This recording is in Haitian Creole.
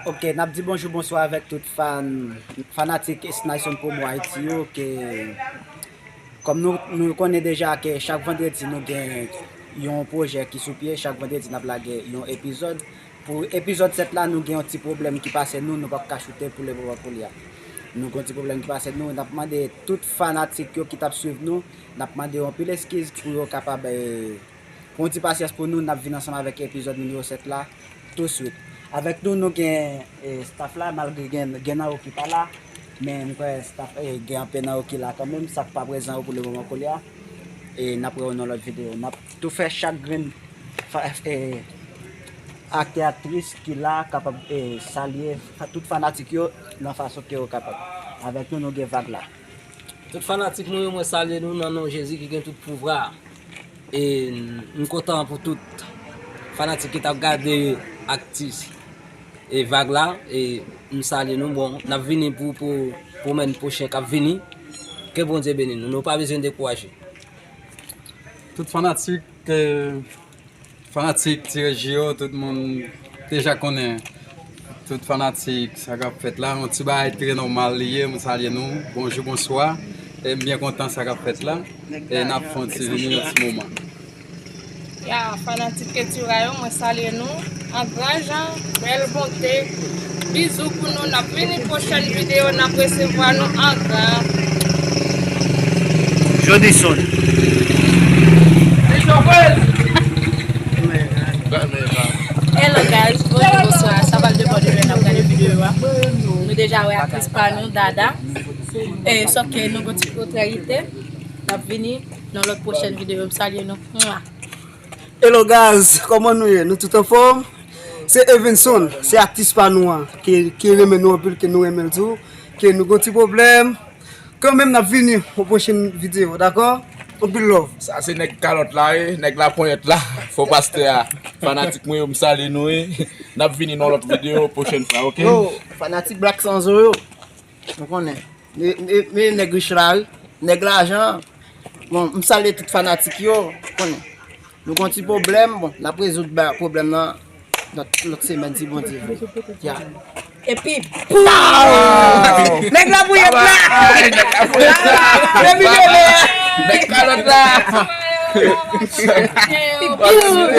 Ok, nap di bonjou bonswa avèk tout fan, fanatik Snayson Promo Haiti yo ke Kòm nou konnen deja ke chak vandredi nou gen yon pwojè ki sou pye, chak vandredi nap lage yon epizòd Pou epizòd 7 la nou gen yon ti pwoblèm ki pase nou, nou pap ka choute pou le moman pou lya Nou gen yon ti pwoblèm ki pase nou, nap mande tout fanatik yo ki tap swiv nou, nap mande yo anpil eskiz pou yo kapab. Pou yon ti pasyans pou nou, nap vin ansanm avèk epizòd nimewo 7 la tou swit. Avèk nou nou gen staff la malgre gen nan yo ki pa la men m kwè staff gen anpe nan yo ki la kanmenm sak pa prezan yo pou le moman koulye a e nap wè yo nan lòt videyo. Nap tou fè chak grenn aktè aktris ki la kapab salye tout fanatik yo nan fason ke yo kapab. Avèk nou nou gen vag la. Tout fanatik mwen yo mwen salye nou nan non Jezi ki gen tout pouvra e m kontan pou tout fanatik ki tap gade aktis e vag la e m salye nou bon nap vini pou pou men pwochen kap vini ke Bondye beni nou nou pa bezwen dekouraje. Tout fanatik. Fanatik Tirè Ji yo, tout moun deja konnen, tout fanatik sa kap fèt la, yon ti bagay trè nòmal li ye, mwen salye nou, bonjou, bonswa, e m byen kontan sa kap fèt la, e nap fon ti vini yon ti moman. Ya fanatik Ketura yo mwen salye nou. An gran jan, bèl bonte. Bizou pou nou nap vini pwochèn video nap resevwa nou an gran. Jodison. Bijou rose. Hello guys bonjou bonswa sa pral depan de lè nap gade video a nou deja wè aktris pa nou Dada sòf ke nou gon ti kontryalite nap vini nan lòt pwochèn video m salye nou. Hello guys koman nou ye nou tout anfom se Evenson se atis pa nou an ki renmen nou anpil ke nou renmenl tou ke nou gon ti problem kanmenm nap vini pou pwochen video dakò anpil love. Sa se nèg kalòt la wi, nèg laponyèt la, fo pastè a, fanatik mwen yo m salye nou wi, nap vini nan lòt video pwochèn fwa ok. Yo fanatik black sanzo yo. Nou konnen me nèg rich la wi, nèg lajan an. Bon, m salye tout fanatik yo, nou konnen. Nou gon ti pwoblèm, bon, n ap rezoud pwoblèm nan lòt semèn si Bondye vle. Ya! Epi pow! Nèg labouyèt la! Depi demen! Nèg kalòt la! Epi pow!